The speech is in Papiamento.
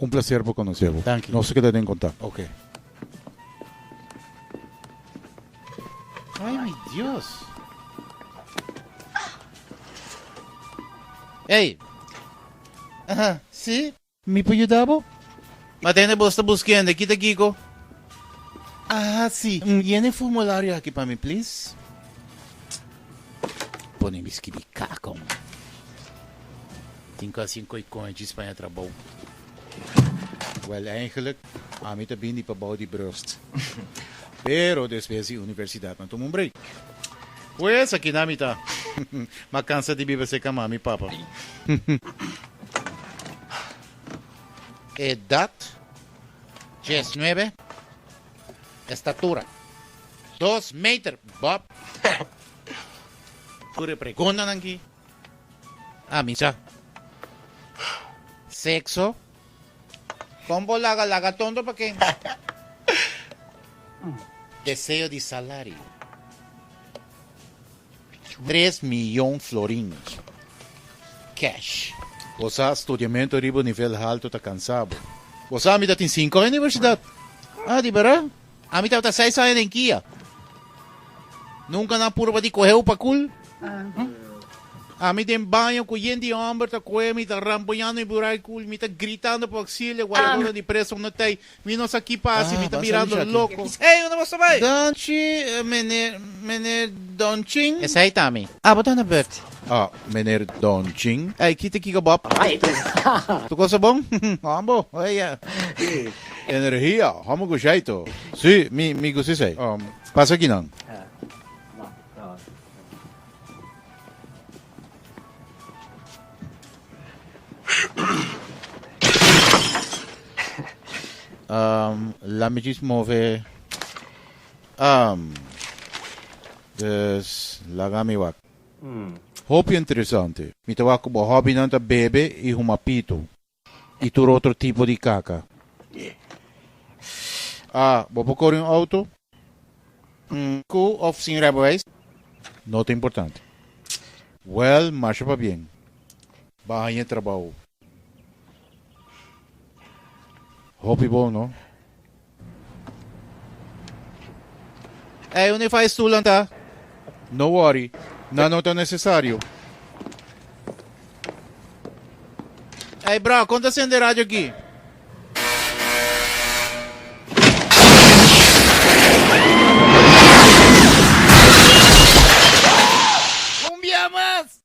Un placer pa conoce bo. Thank you. Nos ta keda den contact. Okay. Ay mi Dios. Ey. Aha, si? Mi por yuda bo? Ma tende bo sta buskende, kita kiko? Aha, si. Yena e formulario aki pa mi, please. Pone miski di kakon. Tin casi un koe konchi Spaña trabou. Wel eigenlijk ami ta bini pa bou di brust. Pero despues di universidad nan tuma un break. Pues akina mi ta. Ma cansa di biba cerca mami papa. Edad dies nuebe. Estatura, dos meter bòb. Tur e preguntanan aki a misa. Sekso, kon bo laga laga tonto pa ken? Deseo di salario. tres miyon florin cash. Bo sa studiamento riba un nivel halto ta kansa bo. Bo sa mi ta tin sinku aña di universidat? Ah, di bera? Ami tabata seis aña den kia. Nunka nan purba di koheu pa kul. Ami den baño ku yen di homber ta kohe mi, ta ramboñando mi buray kul, mi ta gritando pa oksilio, guarabonan di preso no t'ai. Mi nos aki pa hasi mi ta mirando loco. Ey unda bo sta bay? Danchi meneer meneer Donchin. Esey ta mi. Ah bo ta na bert. Ah meneer Donchin. Ey kite kiko Bob. Ray tu sta. Tu cosa bon? Hoan bo? Ey ya. Energia homo go shai to. Si mi mi go si esey. Pasa aki nan. Um, laat me juist move. Um, dus, laga mi wak. Hopi interesante. Mi ta wak ku bo hobbynan ta bebe i huma pitu. Y tur otro tipo di caca. A, Bo por cori un auto? N, Cu of sin rijbewijs? No ta importante. Well, marsha pa bien. Bo a haña e trabou. Hopi bon, no? Ey, uni fai stulan ta? No worry, nan no ta necesario. Ey, bro, kon ta sende radio aki? Un bia mas!